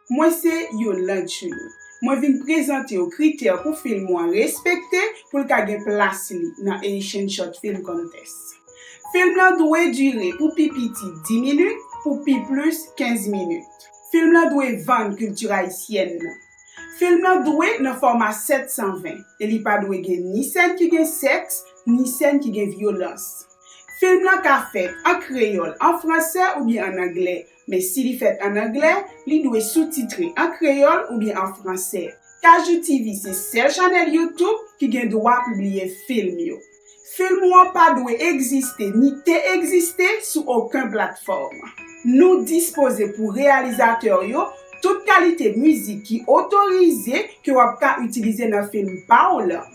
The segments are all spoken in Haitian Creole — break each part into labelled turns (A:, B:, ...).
A: Mwen se Yolande Chenot. Mwen vin prezante w kritè pou film ou an respekte pou l ka gen plas li nan Haitian Short Film Contest. Film lan dwe dire pou pi piti 10 minit, pou pi plis 15 minit. Film lan dwe vann kilti ayisyèn nan. Film lan dwe nan fòma 720 e li pa dwe gen ni sèn ki gen sèks, ni sèn ki gen vyolans. Film lan ka fèt an kreyòl, an fransè oubyen an anglè, Men si li fèt an anglè, li dwe soutitre an kreyòl oubyen an fransè. Kajou TV se sèl chanèl YouTube ki gen dwa pibliye film yo. Film ou an pa dwe egziste ni te egziste sou oken platfòm. Nou dispoze pou reyalizatè w yo tout kalite mizik ki otorize ke w ap ka itilize nan film pa w lan.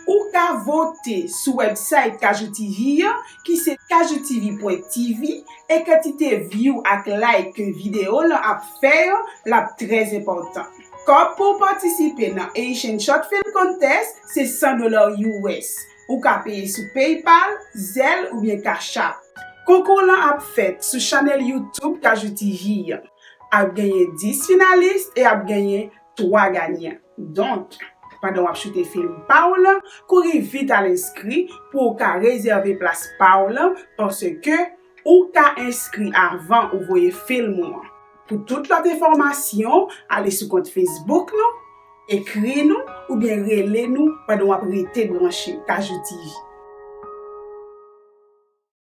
A: Ou ka vote sou website Kajou TV an ki se kajoutv.tv e kantite view ak like ke video lan ap fè yo lap trè enpòtan. Kòb pou w patisipe nan Haitian Short Film Contest se 100 dola us. Ou ka peye sou PayPal, Zelle oubyen Cash App. Konkou lan ap fèt sou channel YouTube Kajou TV an. Ap genyen 10 finalist e ap genyen 3 ganyan. Donk, pandan wap choute film pa w lan, kouri vit al enskri pou w ka rezève plas pa w lan paske ou ka enskri avan ou voye film ou an. Pou tout lòt enfòmasyon, ale sou kont Facebook nou, ekri nou oubyen rele nou pandan wap rete branche Kajou TV.